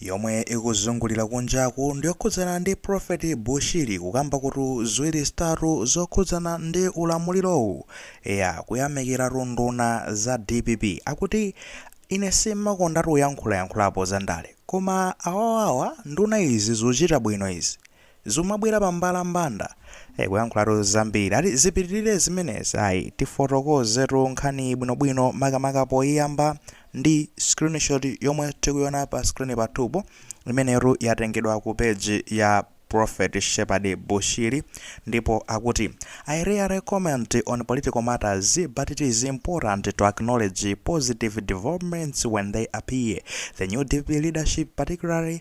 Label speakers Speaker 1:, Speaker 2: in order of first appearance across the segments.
Speaker 1: yomwe ikuzungulira kunjaku ndiyokhudzana ndi prophet bushiri kukamba kuti ziwiri zitatu zokhudzana ndi ulamulirowu eya kuyamikiratu nduna za dpp akuti ine simakondatu uyankhulayankhulapo za ndale koma awawawa nduna izi zuchita bwino izi zumabwera pambalambanda eh kuyankhulatu zambiri ati zipitilire zimenezi ayi tifotokozetu nkhaniyi bwinobwino makamaka poyiyamba ndi screenshot yomwe tikuiona pa screen pathupo imeneyotu yatengedwa ku page ya prophet shepherd bushiri ndipo akuti i rarely comment on political matters but it is important to acknowledge positive developments when they appear the new dpp leadership particularly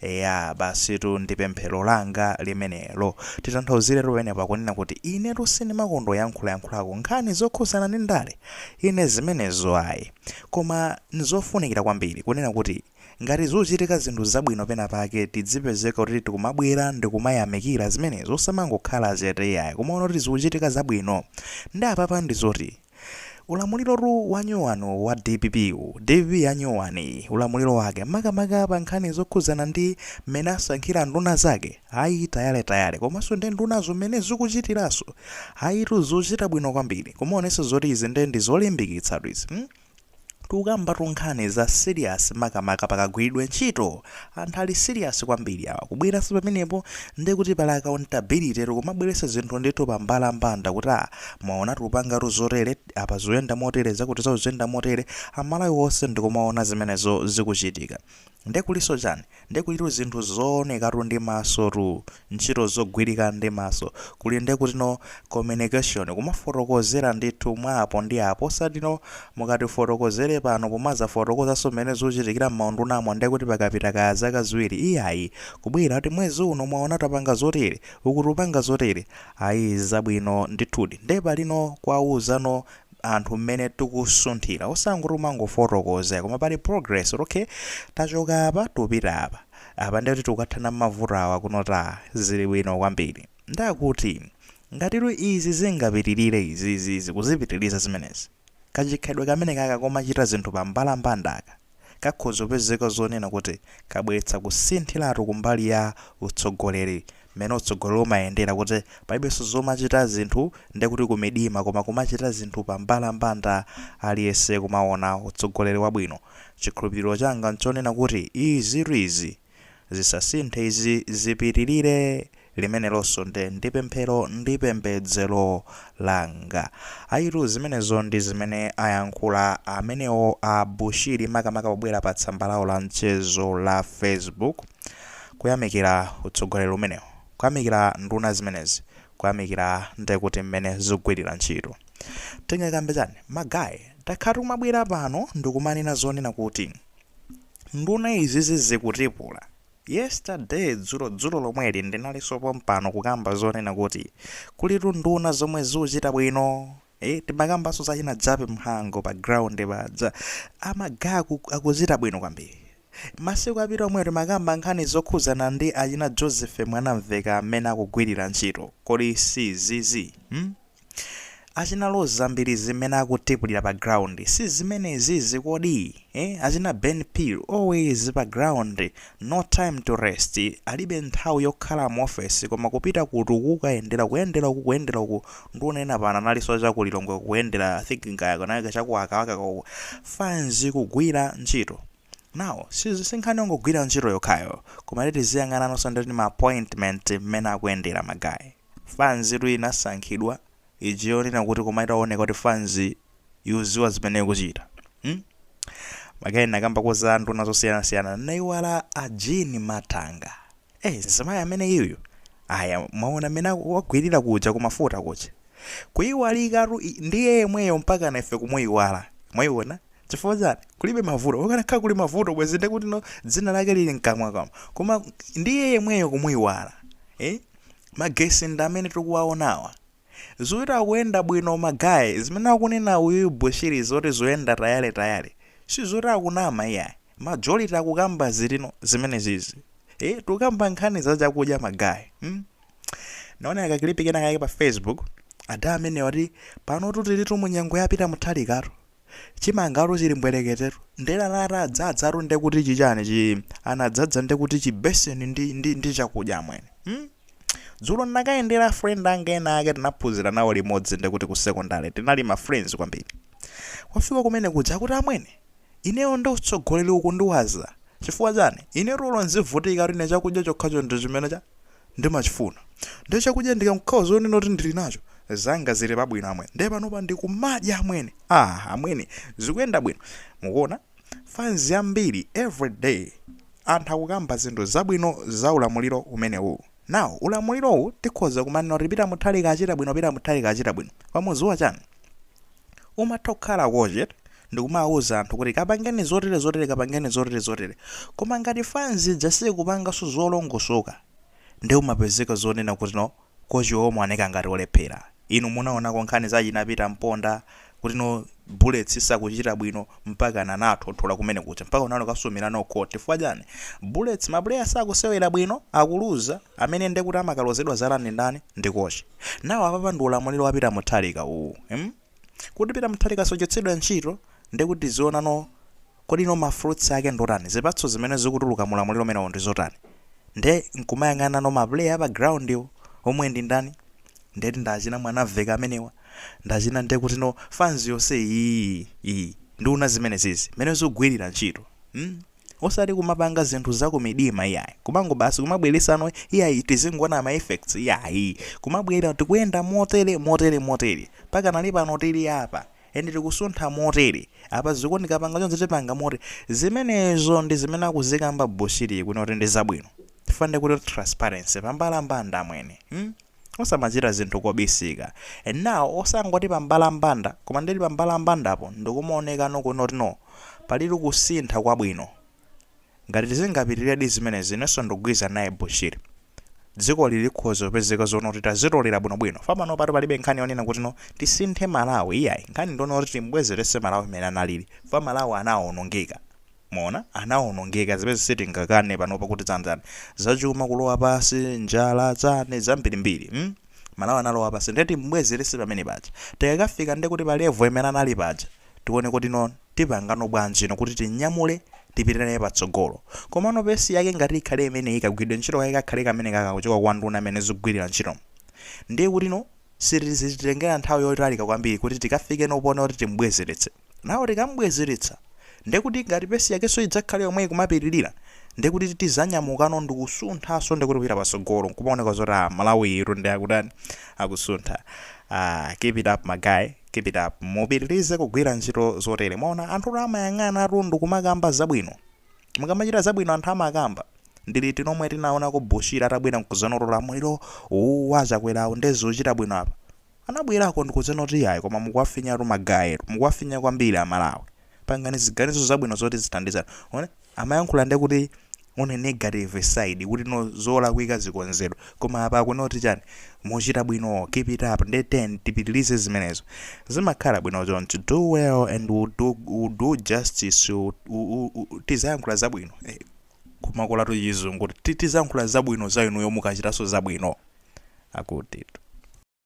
Speaker 1: Eya, basitu ndi pemphero langa limenelo. Titanthauziretu pamenepo akunena kuti inetu sindimakonda uyankhulayankhulako nkhani zokhuzana ndi ndale. Ine zimenezo ayi. Koma n'zofunikira kwambiri kunena kuti ngati zuchitika zinthu zabwino pena pake tidzipezeka kuti tikumabwera ndikumayamikira zimenezo osamangokhala chete iyayi kumaona kuti zikuchitika zabwino. Nde apapa ndizoti. Ulamulirotu wanyowani wa dpp wu, dpp yanyowani iyi, ulamuliro wake, makamaka pa nkhani zokhudzana ndi mmene asankhira nduna zake, ayi tayaretayare, komanso nde ndunazo mmene zikuchitiraso, ayitu zochita bwino kwambiri, kumaonesa zoti izi nde ndi zolimbikitsatu izi, mm. Tikukambatu nkhani za serious makamaka pakagwiridwe ntchito. Anthu ali serious kwambiri awa. Kubweranso pamenepo ndi kuti pali accountability tikumabweretsa zinthu ndithu pambalambanda kuti ah mwaona tikupangatu zotere, apa zikuyenda motere, zakutizawo zikuyenda motere, a Malawi onse ndikumaona zimenezo zikuchitika. Nde kuliso chani? Nde kulitu zinthu zoonekatu ndi maso tu, ntchito zogwirika ndi maso. Kuli nde kuti no communication, kumafotokozera ndithu mwa apo ndi apo osati no mukatifotokozere pano pomazafotokozaso mmene zuchitikira mmaundunamo nde kuti pakapita kaya zaka ziwiri iyayi. Kubwera kuti mwezi uno mwaona tapanga zotere, uku tupanga zotere. Ayi zabwino ndithudi. Nde pali no kuwauzano. anthu mmene tikusunthira osangoti umangofotokoza koma pali progress kuti okay tachoka apa tupita apa apa ndiye kuti tikukathana mavuto awa kuno taa zili bwino kwambiri ndakuti ngatitu izi zingapitirire izizizi kuzipitiriza zimenezi kachikhalidwe kameneka ka komachita zinthu pambalambandaka kakhoza kupezeka zonena kuti kabweretsa kusinthiratu kumbali ya utsogoleri mmene utsogoleri umayendera kuti palibenso zomachita zinthu ndekuti kumidima koma kumachita zinthu pambalambanda aliyense kumaona utsogoleri wabwino chikhulupiriro changa nchonena kuti izitu izi Zisasinthe izi zipitirire, limenelonso ndi, ndi pemphero ndi pembedzero langa. Ayitu, zimenezo ndi zimene ayankhula amenewo a Bushiri makamaka pobwera pa tsamba lawo la mchezo la Facebook kuyamikira utsogoleri umenewu, kuyamikira nduna zimenezi, kuyamikira ndi kuti mmene zikugwirira ntchito. Tingakambe chani? Ma guy, takhatu tikumabwera pano ndikumanena zonena kuti. Nduna izizi zikutipula. Yesterday dzulo dzulo lomweli ndinalinso pompano kukamba zonena kuti kulitu nduna zomwe zuchita bwino. Eh, timakambanso za china Jape Mhango pa ground paja. Magayi, aku- akuchita bwino kwambiri. Masiku apita omwewo timakamba nkhani zokhudzana ndi achina Joseph Mwanamveka mmene akugwirira ntchito. Kodi si izizi? Hmm? Achina Roza Mbilizi mmene akutipulira pa ground si zimenezizi kodi eh? Achina Ben Phiri always pa ground no time to rest, alibe nthawi yokhala mu office koma kupita ku uku kukayendera kuyendera uku kuyendera uku nduna ena pano analinso cha ku Lilongwe kuyendera I think kaya kunali cha ku wakawaka uku fanzi kugwira ntchito now si si nkhani yongogwira ntchito yokhayo koma tiziyang'ananso ndi ma appointment mmene akuyendera magayi. Fanzitu inasankhidwa ija yonena kuti koma itaoneka kuti fanzi ikudziwa zimene ikuchita. Hmm? Magayi nakambako za nduna zosiyanasiyana naiwala a Jean Matanga. Eh, mzimayi ameneyuyu. Aya, mwaona mmene aku- wagwirira kuja kumafuta kuja. Kuiwalikatu i- ndiye yemweyo mpaka na ife kumuiwala. Mwaiona? Chifukwa chani? Kulibe mavuto. Kukanakhala kuli mavuto bwezi ndekuti no dzina lake lili mkamwamkamwa. Koma ndiye yemweyo kumuiwala. Eh? magesi ndi amene tikuwaonawa. Zoti akuyenda bwino ma guy zimene akunena uyuyu Bushiri zoti zoyenda tayale tayale sizoti akunama iyayi majority akukamba zilino zimenezizi ee tukamba nkhani za chakudya ma guy mm? naona ka clip kena kake pa facebook ada amenewa akuti panotu tilitu mu nyengo ya Peter Mutharikatu chimangatu chili mbwereketetu ndela la atadzadzatu nde kuti chichani chi anadzadza nde kuti chibeseni ndi, ndi, ndi chakudya amwene hmm? dzulo ndinakayendera friend anga ena ake tinaphunzira nawo limodzi nde kuti ku secondary tinali ma friends kwambiri kufika kumene kuja akuti amwene ineyo ndi utsogoleri ukundiwaza chifukwa chani ine tulo nzivutikatu ine chakudya chokhacho ndi chimene cha ndimachifuna nde chakudya ndikangokhala zonena kuti ndili nacho zanga zili pabwino amwene nde panopa ndikumadya amwene aah amwene zikuyenda bwino mukuona fanz yambiri every day anthu akukamba zinthu zabwino za ulamuliro umenewu now ulamulirowu tikhoza kumanena kuti Peter Mutharika wachita bwino Peter Mutharika wachita bwino mukudziwa chani Umatha kukhala coach ndikumawuza anthu kuti kapangeni zotere zotere kapangeni zotere zotere koma ngati fans ija sikupanga zolongosoka nde umapezeka zonena kuti no coach iwe umaoneka ngati olephera. Inu munaonako nkhani za achina Peter Mponda kuti no Bullets isakuchita bwino mpakana anawathothola kumene kuja mpaka anakasumira no court chifukwa chani? Bullets ma player sakusewera bwino akuluza amene ndekuti amakalozedwa zala ndi ndani? Ndi coach. Now apapa ndi ulamuliro wa Peter Mutharika uwu mm kuti Peter Mutharika sochotsedwa ntchito nde kuti tiziona no kodi no ma fruits ake ndiotani zipatso zimene zikutuluka mu ulamuliro umenewu ndi zotani nde nkumayang'ana no ma player a pa ground po omwe ndi ndani ndeti ndi achina Mwanamvekha amenewa ndi achina nde kuti no fans yonse iyii ii nduna zimenezizi mmene zikugwilira ntchito mm osati kumapanga zinthu zakumidima iyayi kumango basi kumabweresano iyayi tizingoona ma effects iyayi kumabwera tikuyenda motere motere motere pakanali pano tili apa ende tikusuntha motere apa zikuoneka kupanga zonse tipanga motere zimenezo ndi zimene akuzikamba Bushiri kunoti ndi zabwino fande kuti transparency pambalambanda amwene hmm? Osamachita zinthu kobisika. And now osangoti pa mbalambanda koma ndeti pa mbalambandapo ndikumaonekano kunoti no palidi kusintha kwabwino. Ngati tizingapitiredi zimenezi inenso ndikugwirizana naye Bushiri. Dzikoli likhoza kupezeka zonoti tazitolera bwinobwino. Fa panopatu palibe nkhani yonena kuti no tisinthe Malawi iyayi. Nkhani ndionoti tim'bwezeretse Malawi mmene analili. Fa Malawi anawonongeka. Mwaona, anawonongeka, zimene sitingakane panopa kuti zanzani, zachuma kulowa pansi, njala, chani, zambiri mbiri, mm, Malawi analowa pansi nde timbwezelese pamene paja, tikakafika nde kuti pa level imene anali paja, tione kuti no tipangano bwanji no kuti tinyamule tipite naye patsogolo, komano pace yake ngati ikhale imeneyi kagwiridwe ntchito kake kakhale kamene kaka kuchoka kwa nduna mmene zugwilira ntchitomo, nde kuti no sizititengera nthawi yotalika kwambiri kuti tikafike no poona kuti timbwezeletse. Now tikamubwezeretsa ndekuti ngati pace yakenso idzakhale yomweyi kumapitilira ndekuti tizanyamukano ndikusunthanso ndekuti kupita pasogolo nkumaoneka zoti ah malawiyitu nde akutani akusuntha ah keep it up ma guys keep it up mupitilize kugwira ntchito zotere mwaona anthutu amayang'anatu ndikumakamba zabwino mukamachita zabwino anthu amakamba ndi liti lomwe tinaonako Bushiri atabwera nkuzanoti ulamuliro uwu wa Chakwerawu nde ukuchita bwino apa Anabwerako ndikudzanena kuti yayi koma mukuwafinyatu ma guys tu mukuwafinya kwambiri a Malawi pangani ziganizo zabwino zoti zithandize anthu one amayankhula ndekuti one negative side kuti no zolakwika zikonzedwe koma apa akunena kuti chani muchita bwino keep it up ndeti tipitilize zimenezo zimakhala bwino choncho do well and we'll do, we'll do justice u, u, u, u, tizayankhula zabwino eh, kumakolatu chizungu ti- tizayankhula zabwino za inuyo mukachitaso zabwino akutitu